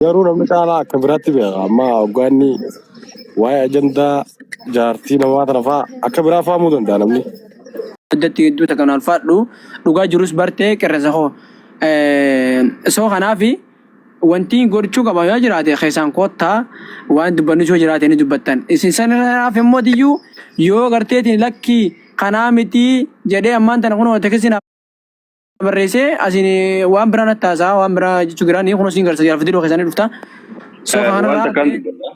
Garuu namni caalaa akka biraatti beeka. Amma hoggaa inni waa'ee ajandaa jaartii namaa tana fa'aa akka biraa fahamuu danda'a namni. Addatti hedduu takka nu alfaadhu. Dhugaa jirus bartee qirresa koo. Soo kanaaf wanti godhachuu qaban yoo jiraate keessaan koottaa waan dubbannus yoo jiraate ni dubbattan. Isin sanaaf immoo diyyuu yoo garteetiin lakkii kanaa mitii jedhee ammaan tana kunoo tekisin barreessee asiin waan biraa natti haasaa waan biraa jechuu biraa ni kunuun siin garsa jiraaf didoo keessanii dhufta. So Eh, waan kanarraa takkaan dubbadha.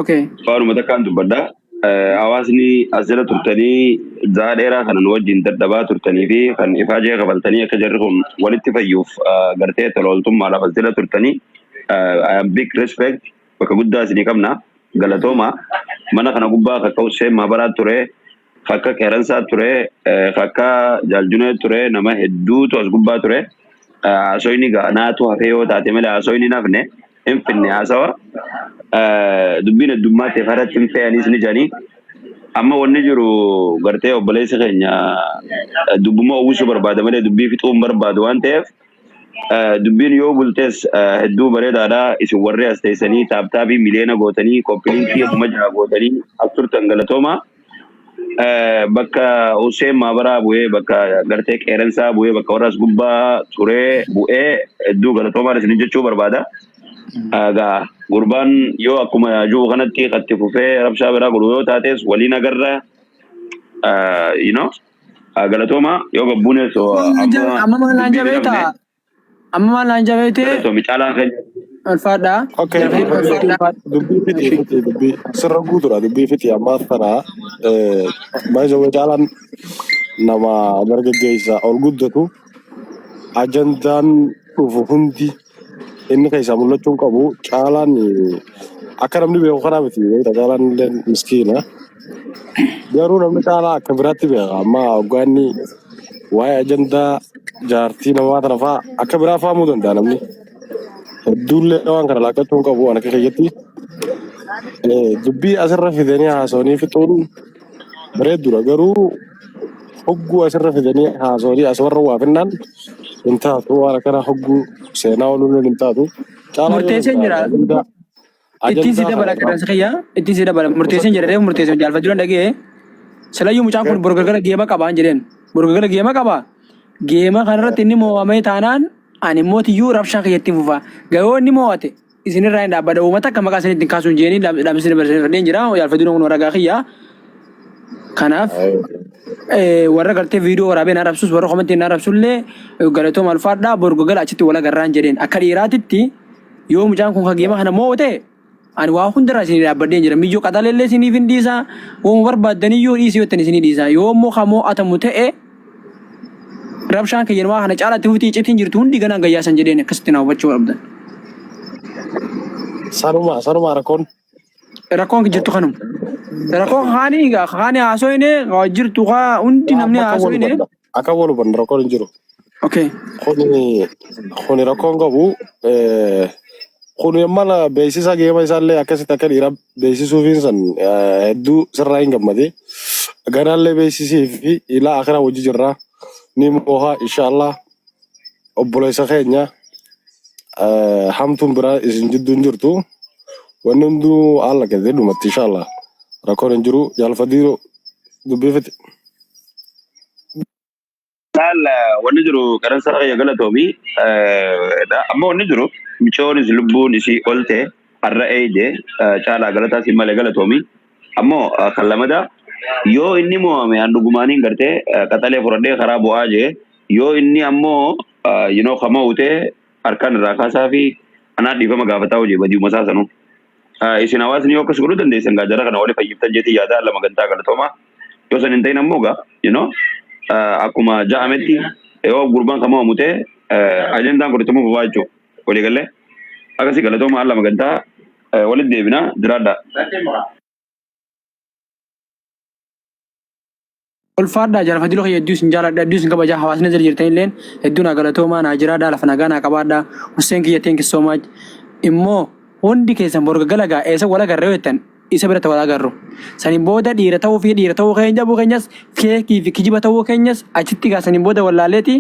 okay. Waanuma takkaan dubbadha. Eh, Hawaasni as jala turtanii zahaa dheeraa kana nu wajjin dadhabaa turtanii fi kan ifaa jee kabaltanii akka jarri kun walitti fayyuuf eh, gartee tola ooltummaadhaaf as jala turtanii eh, I am big respect bakka guddaa isinii qabna galatooma mana kana gubbaa kaka'u seemaa baraa ture Akka Qeeransaa ture, eh, akka Jaaljunee ture, nama hedduutu as gubbaa ture. Eh, Haasoyni gaa naatu hafee yoo taate malee haasoyni hin hafne, hin finne haasawa. Eh, Dubbiin heddummaa ta'eef irratti hin fe'anis ni jedhanii. Amma wanni jiru gartee obboleessi keenya eh, dubbuma uwwisuu barbaada malee dubbii fixuu hin barbaadu waan ta'eef eh, dubbiin yoo bultes eh, hedduu bareedaadha. Isin warri as teessanii taaptaabii miliyoona gootanii koppiliinkii kuma jaha gootanii as turtan galatoomaa. Eh, bakka Hussein Maabaraa bu'ee, bakka gartee qeerensaa bu'ee, bakka warra as gubbaa turee bu'ee hedduu galatoomaan isin jechuu barbaada. Egaa gurbaan yoo akkuma jiru kanatti itti fufee rabshaa biraa godhu yoo taates waliin agarra eh, you know, eh, galatoomaa yoo gabbuunes oh, Maal naan amma jabe amma maal naan deebii jabe dhabne taa Amma maal naan jabeete Galatoomi caalaan keenya. ulfaadhaa. Okay, Dubbii dubbii fixii ulfaadhaa. faa- dubbii fixii fixii dubbii sirra guutuudha dubbii fixii ammaaf kana baay'ee caalaan nama dargaggeessa ol guddatu ajandaan dhufu hundi inni keessaa mul'achuu hin qabu caalaan akka namni beeku kanaa miti beekta caalaan illee miskiina Garuu namni caalaa akka biraatti beeka. Amma hoggaa inni waa'ee ajandaa jaartii namaa tana fa'aa akka biraa fahamuu danda'a namni. Hedduullee waan kana laakkachuu hin qabu waan akka keessatti. Dubbii asirra fidanii haasawanii fixuun bareedduudha. Garuu hogguu asirra fidanii haasawanii as warra waa finnaan hin taatu. Waan akkana hogguu seenaa ooluun hin taatu. Caalaa yoo Murteessee danda'a jira. ajandaa Ittiin si Ajandaa dabala kana qaama. qeerransa kiyya ittiin si dabala murteesseen Qusachuu jedhe reefu murteesseen jaalfachuu dhan dhaga'e silayyuu mucaan kun bor galgala geema qabaan jedheen bor galgala geema qaba geema kanarratti inni mo'amee taanaan ani immoo tiyyuu rabshaa kiyya ittiin fufa gayoo inni mo'ate isinirraa hin dhaabbada uummata akka maqaa isanii ittiin kaasuun jeeni dhaamsi isin barsiisee fadheen jira jaalfachuu dhan kun warra gaa kiyya kanaaf eh, warra gartee viidiyoo waraabee naa rabsus warra komentii naa rabsullee galatoo malfaadhaa bor galgala achitti wal agarraan jedheen akka dhiiraatitti Yoo mucaan kun ka geema kana moo'u ta'e ani waa hundarraa isinii dhaabbadheen jira. Miyyoo qaxaleellee isiniif hin dhiisaa. Wooma barbaaddaniyyuu dhiisii yottan isinii dhiisaa. Yoo immoo ka moo'atamu ta'e rabshaan kiyya namaa kana caalaatti fufti iccitiin jirtu hundi ganaan gayyaasan jedheen akkasitti na hubachuu qabdan. Sanuma sanuma rakkoon. Rakkoon jirtu kanuma. Rakkoon kaanii kaanii haasoyne jirtu kaa hundi namni Bakka wal haasoyne. godha. Akka wal hubannu rakkoon hin jiru. Okay. Kuni kuni rakkoon qabu eh, kuni mana beeksisa geema isaallee akkasitti akka dhiira beeksisuufiin san eh, hedduu sirraa hin gammade. Ganaallee beeksisii fi ilaa akhiraa wajji jirra. Ni mooha inshaallah obboleessa keenya eh, hamtuun biraa isin jidduu hin jirtu. Wanni hunduu haala keessatti dhumatti inshaallah. Rakkoon hin jiru jaalfadii dubbifti. Laal wanni jiru qaransa kiyya galatoomi. Amma wanni jiru michoonis lubbuun isii olte har'a eeyde caalaa galataa siin malee galatoomi. Ammoo kan lamadaa yoo inni mo'ame an dhugumaaniin gartee qaxalee fudhadhee karaa bu'aa jee yoo inni ammoo yinoo ka mo'ute harkaan irraa kaasaa fi anaa dhiifama gaafataa hojii badiuma isaa sanuu. Ah, Isin hawaasni yoo akkas godhuu dandeessan gaa jara kana wali fayyiftan jeetii yaadaa lama gantaa galatoomaa. Yoo san hin ta'in ammoo gaa, you know, ah, akkuma ja'ametti yoo gurbaan kan mo'amu ta'e eh, ajandaan kun itti fufaa jechuudha. Walii gallee akkasii galatoomaa lama gantaa eh, walitti deebinaa jiraadhaa. Ulfaadhaa jaalfa diloo kiyya hedduu isin jaaladha hedduu isin kabajaa hawaasni jala jirtan illeen hedduu naa galatoomaa naa jiraadhaa lafa nagaa naa qabaadhaa Husseen kiyya thank you so much immoo hundi keessan bor gagalagaa eessa wal agarra yoo jettan isa biratti wal agarru saniin booda dhiira ta'uu fi dhiira ta'uu keenya dhabuu keenyas feekii fi kijiba ta'uu keenyas achitti egaa saniin booda wallaalleeti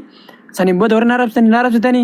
saniin booda warri naa rabsitanii naa rabsitanii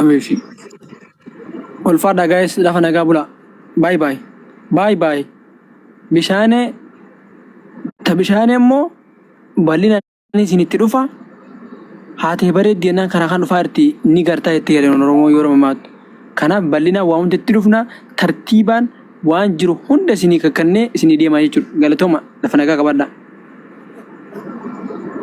Ameefi. Ulfaadhaa gaa'ees lafa nagaa bulaa. Baay baay. Baay baay. Bishaanee ta bishaanee immoo bal'ina isin itti dhufa haatee bareeddi jennaan karaa kan dhufaa irti ni gartaa itti jedhan Oromoo yoo mammaaktu. Kanaaf bal'ina waa hunda itti dhufna tartiibaan waan jiru hunda isinii kakkannee isinii deemaa jechuudha. Galatooma lafa nagaa qabadhaa.